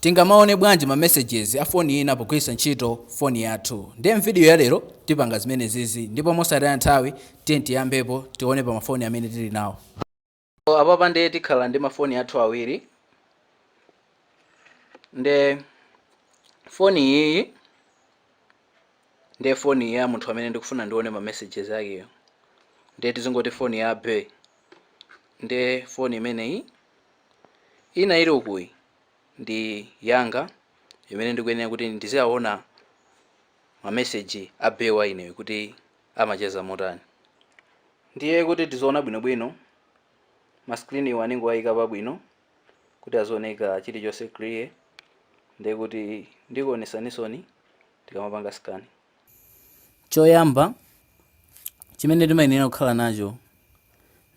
Tingamaone bwanji ma messages a foni ina pogwiritsa ntchito foni yathu? Ndiye m'vidiyo ya lero tipanga zimenezizi ndipo mosataya nthawi tiyeni tiyambepo tione pa mafoni amene tili nawo. So apapa nde tikhala ndi mafoni athu awiri nde foni iyiyi nde foni ya munthu amene ndikufuna ndione ma messages akeyo nde tizingoti foni ya bae nde foni imeneyi Ina ili ukuyi ndi yanga imene ndikuyenera kuti ndiziawona ma message a bae wa ineyo kuti amacheza motani. Ndiye kuti tiziona bwino bwino ma screen wa ndingowaika pabwino kuti azioneka chilichonse clear ndekuti ndikuonesanisoni tikamapanga scan. Choyamba chimene timayenera kukhala nacho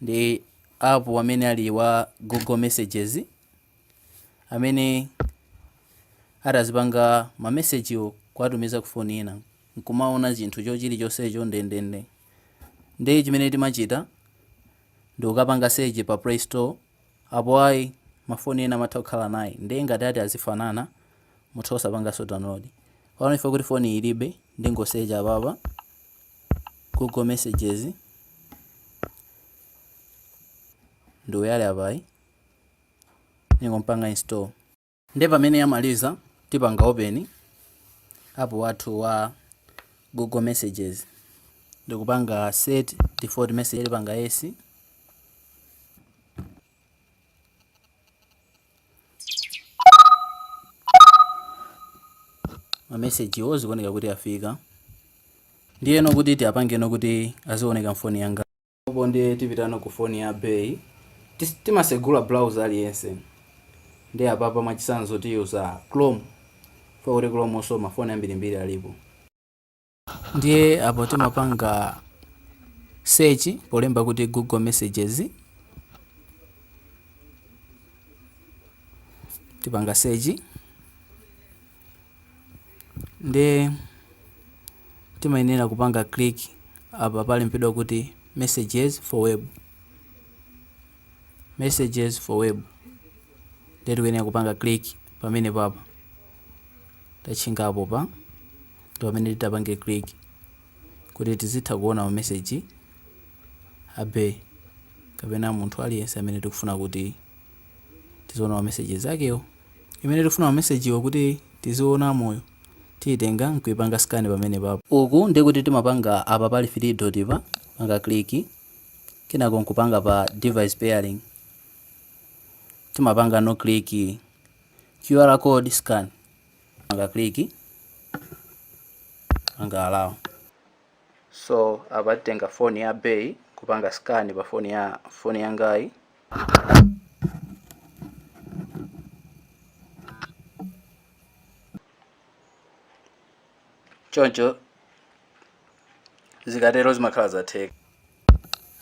ndi apu amene ali wa Google Messages amene atazipanga mamesejiwo kuwatumiza ku foni ina nkumaona chinthu cho chilichonsecho ndendende. Ndiye chimene timachita ndi kukapanga search pa Play Store. Apo ayi, ma phone ena amatha kukhala naye nde ngati ati azifanana mutha kusapanganso download. Pano chifukwa choti phone ilibe ndingo search apapa Google messages ndi uyu ali apayu ndingompanga install. Nde pamene yamaliza tipanga open app wathu wa Google messages ndikupanga set default message tipanga yes ma message wo zikuoneka kuti afika ndiyeno kuti tiapangeno kuti azioneka mfoni yanga Apo ndiye tipitano ku phone ya bae timasegula browser aliyense ndiye apapa mwachitsanzo tiyuza chrome chifukwa choti chrome nso ma phone ambirimbiri alipo ndiye apo timapanga search polemba kuti google messages tipanga search nde timayenera kupanga click apa palembedwa kuti messages for web messages for web nde tikuyenera kupanga click pamene papa tachingapo pa ndi pamene titapange click kuti tizitha kuona ma message a bae kapena munthu aliyense amene tikufuna kuti tiziona ma messages akewo imene tikufuna mamesejiwo kuti tiziona moyo tiyitenga nkuipanga scan pamenepapo. Uku nde kuti timapanga apa pali 3 dot pa panga click kenako nkupanga pa device pairing timapangano click QR code scan panga click panga allow. So apa tiyitenga phone ya bae kupanga scan pa phone ya phone yangayi. Choncho zikatero zimakhala zatheka.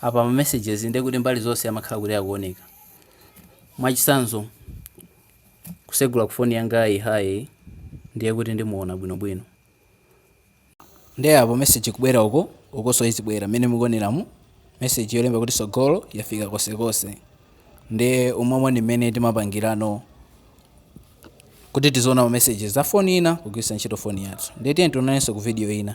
Apa ma messages ndiye kuti mbali zonse amakhala kuti akuoneka. Mwachisanzo kusegula ku phone yangayi hi ndiye kuti ndimuona bwinobwino. Nde apo message ikubwera uko ukonso izibwera mmene mukuoneramu message yolemba kuti sogolo yafika konsekonse nde umomo ndi mmene timapangirano kuti tiziona ma messages za phone ina kugwiritsa ntchito phone yathu nde tiyeni tionanenso ku video ina.